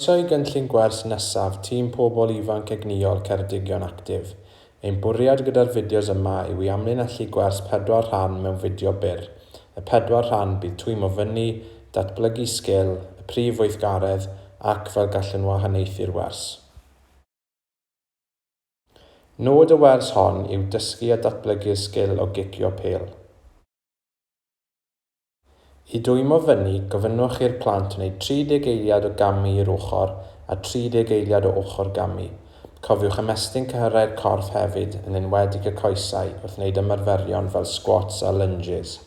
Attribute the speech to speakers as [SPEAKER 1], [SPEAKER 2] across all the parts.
[SPEAKER 1] Croesawu gynllun gwers nesaf Tîm Pobl Ifanc Egnïol Ceredigion Actif. Ein bwriad gyda'r fideos yma yw i amlinellu gwers pedwar rhan mewn fideo byr. Y pedwar rhan bydd twymo fyny, datblygu sgil, y prif weithgaredd, ac fel gallwn wahaniaethu'r wers. Nod y wers hon yw dysgu a datblygu'r sgil o gicio pêl. I dwymo fyny, gofynnwch i'r plant wneud 30 eiliad o gamu i'r ochr a 30 eiliad o ochr gamu. Cofiwch ymestyn cyhyrau'r corff hefyd, yn enwedig y coesau, wrth wneud ymarferion fel sgwats a lynjis.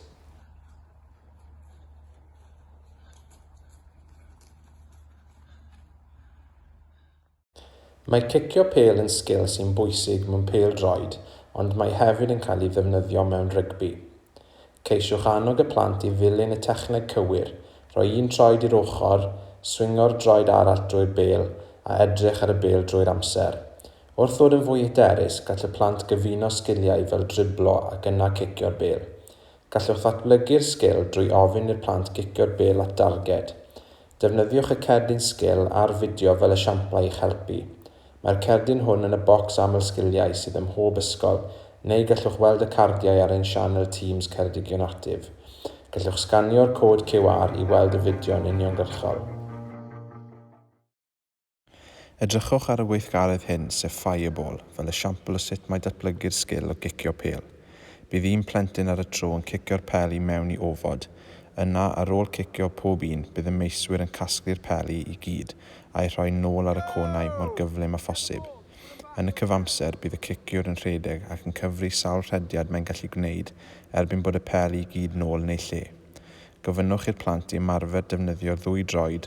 [SPEAKER 1] Mae cicio pêl yn sgil sy'n bwysig mewn pêl-droed ond mae hefyd yn cael ei ddefnyddio mewn rygbi. Ceisiwch annog y plant i ddilyn y techneg cywir, rhoi un troed i'r ochr, swingo'r droed arall drwy'r bêl a edrych ar y bêl drwy'r amser. Wrth ddod yn fwy hyderus, gall y plant gyfuno sgiliau fel driblo ac yna cicio'r bêl. Gallwch ddatblygu'r sgil drwy ofyn i'r plant gicio'r bêl at darged. Defnyddiwch y cerdyn sgil a'r fideo fel esiamplau i'ch helpu. Mae'r cerdyn hwn yn y bocs aml sgiliau sydd ym mhob ysgol, neu gallwch weld y cardiau ar ein sianel Teams Ceredigion Actif. Gallwch sganio'r cod QR i weld y fideo yn uniongyrchol. Edrychwch ar y weithgaredd hyn, sef Fireball, fel esiampl o sut mae datblygu'r sgil o gicio pêl. Bydd un plentyn ar y tro yn cicio'r pel i mewn i ofod. Yna, ar ôl cicio pob un, bydd y meiswyr yn casglu'r peli i gyd a'u rhoi nôl ar y cônau mor gyflym â phosib. Yn y cyfamser, bydd y ciciwr yn rhedeg ac yn cyfri sawl rhediad mae'n gallu gwneud erbyn bod y peli i gyd nôl yn ei lle. Gofynnwch i'r plant i ymarfer defnyddio'r ddwy droed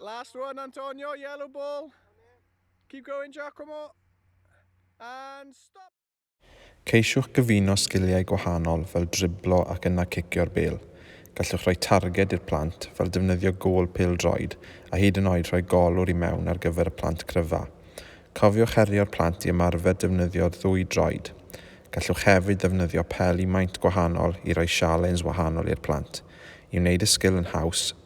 [SPEAKER 2] Last one, Antonio, yellow ball. Keep going, Giacomo. And stop. Ceisiwch
[SPEAKER 1] gyfuno sgiliau gwahanol fel driblo ac yna cicio'r bêl. Gallwch roi targed i'r plant, fel defnyddio gôl pêl-droed, a hyd yn oed rhoi golwr i mewn ar gyfer y plant cryfa. Cofiwch herio'r plant i ymarfer defnyddio'r ddwy droed. Gallwch hefyd ddefnyddio peli maint gwahanol i roi sialens wahanol i'r plant. I wneud y sgil yn haws,